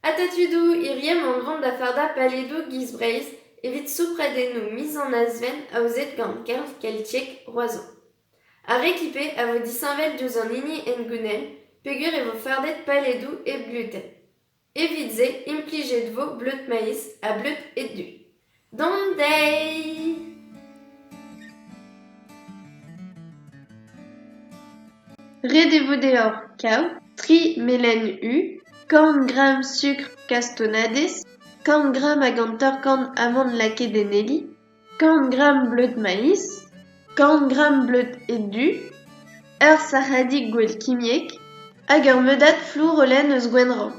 Atatudoù irienn an dron da fardañ paledoù giz Breizh evit soupradennoù miz an Azven aozet gant Kerv Keltiek Roazhon. Ar Réclipé a vo disheñvel diouzh an hini hengounel peger e vo fardet paledoù hep gluten. Evit se implijet vo bleud-maiz ha bleud-edu. D'an deiz! Ret e vo deoc'h kaout tri melen u, kant gramm sukr kastonnadez, kant gramm hag hanter-kant amann lakaet en heli, kant gramm bleud maiz, kant gramm bleud ed-du, ur sac'hadig gwell kimiek hag ur meudad flour-oleñ eus Gwenrann.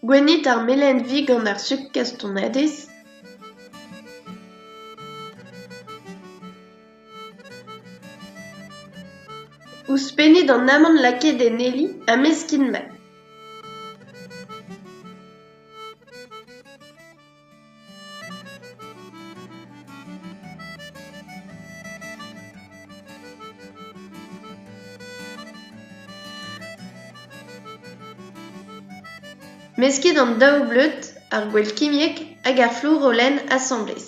Gwennit ar melen-vi gant ar sukr kastanadez. Ouzhpennit an amann lakaet en heli ha meskin mat. Mesket an daou bleud, ar gwell kimiek hag ar flourollenn asambles.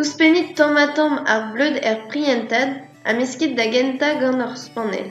Ouzhpennit tamm-ha-tamm ar bleud er prientad ha meskit da gentañ gant ur spanell.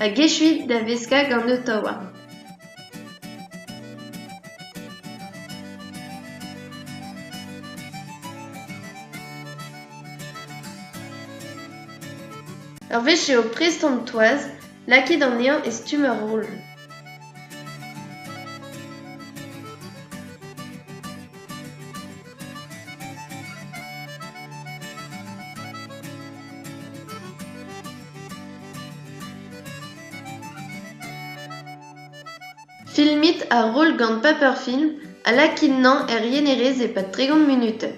hag echuit da veskañ gant Ottawa. Ur wech eo prest an toaz lakaet anezhañ e stumm ur roll. Filmit ar roll gant Paperfilm ha lakit-nañ er yenerez e-pad tregont munutenn.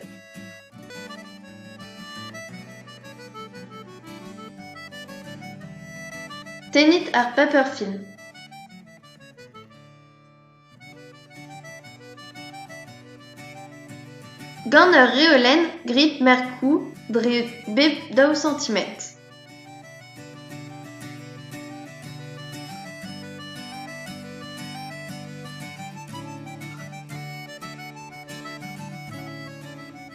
Tennit ar Paperfilm. Gant ur reolenn grit merkoù dre bep daou santimetr.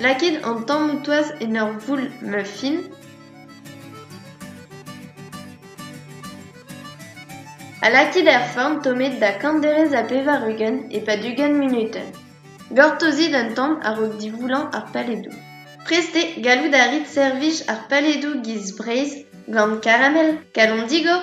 Lakit an tammoù toaz en ur voull-muffin. Ha lakit er forn tommet da kant derez ha pevar-ugent e-pad ugent munutenn. Gortozit un tamm a-raok divoullañ ar paledoù. Prestez gallout a rit servij ar paledoù giz Breizh gant karamel, kalon digor.